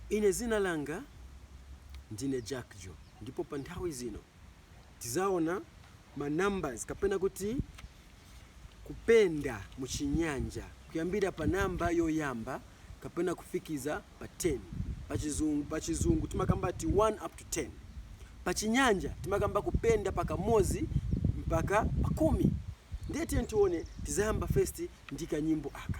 Ine zina langa ndine Jackjo ndipo pa nthawi zino tizaona ma numbers kapena kuti kupenda mu chinyanja kuyambira pa number yoyamba kapena kufikiza pa 10. Pachiz pa chizungu timakamba ati 1 up to 10. Pa chinyanja timakamba kupenda pa kamozi mpaka pa kumi. Ndiye tiyeni tione tizayamba first ndi kanyimbo aka.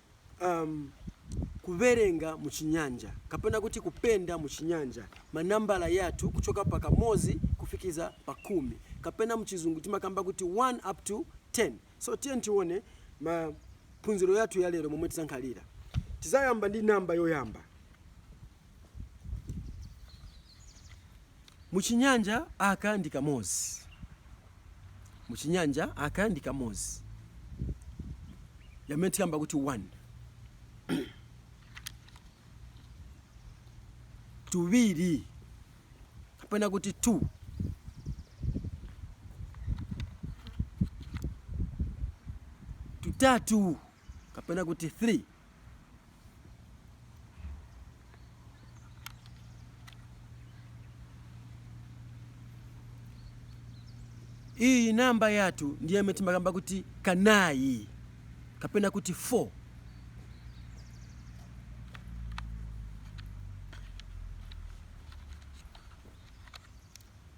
am, kuverenga mu Chinyanja, kapena kuti kupenda mu Chinyanja, ma nambala yathu kuchoka pa kamozi kufikiza pa kumi, kapena mchizungu timakamba kuti 1 up to 10. So tiyeni tione maphunziro yathu ya lero momwe tizankhalira. Tizayamba ndi namba yoyamba. Mu Chinyanja, Aka ndi kamozi. Mu Chinyanja, Aka ndi kamozi. Yamene tikamba kuti one. Tuviri. Kapena kuti two. Tutatu. kapena kuti 3 iyi namba yathu ndi yemwe timakamba kuti kanayi kapena kuti 4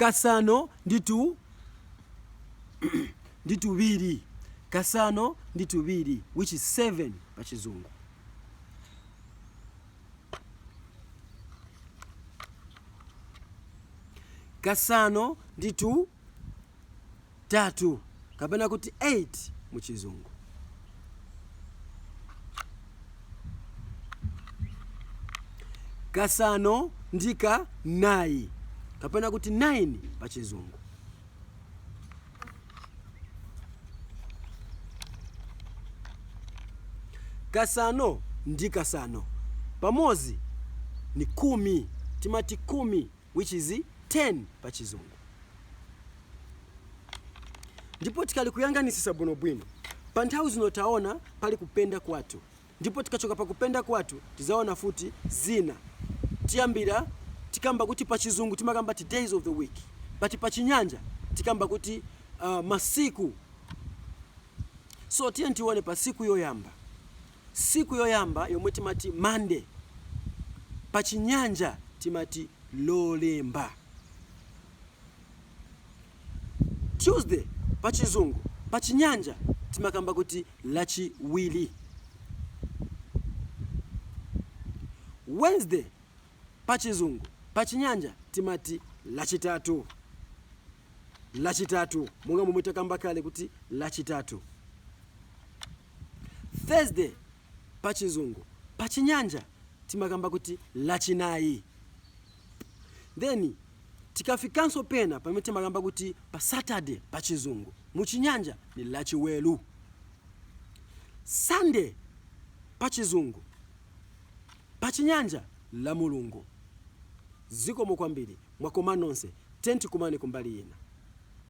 kasano ndi tu ndi tuviri kasano ndi tuviri which is 7 pa chizungu kasano ndi tu tatu kapena kuti 8 mu chizungu. Kasano ndi kanayi kapena kuti 9 pa chizungu. Kasano ndi kasano pamozi ni kumi, timati kumi. which is 10 pa chizungu. Ndipo tikali kuyanganisisa bwino bwino, pa nthawi zino taona pali kupenda kwathu, ndipo tikachoka pa kupenda kwathu tizaona futi zina. Tiyambira tikamba kuti pa chizungu timakamba ati days of the week, but pa chinyanja tikamba kuti masiku. So tiyeni tione pa siku yoyamba. Siku yoyamba yomwe timati Monday, pa chinyanja timati Lolemba. Tuesday, pa chizungu, pa chinyanja timakamba kuti Lachiwili. Wednesday, pa chizungu, pa chinyanja timati Lachitatu. Lachitatu, monga momwe takamba kale kuti Lachitatu. Thursday pa chizungu pa chinyanja timakamba kuti lachinayi then tikafikanso pena pamene timakamba kuti pa Saturday pa chizungu mu chinyanja ni lachiwelu. Sunday pa chizungu pa chinyanja lamulungu. Zikomo kwambiri mwakoma nonse tiyeni tikumane kumbali ina.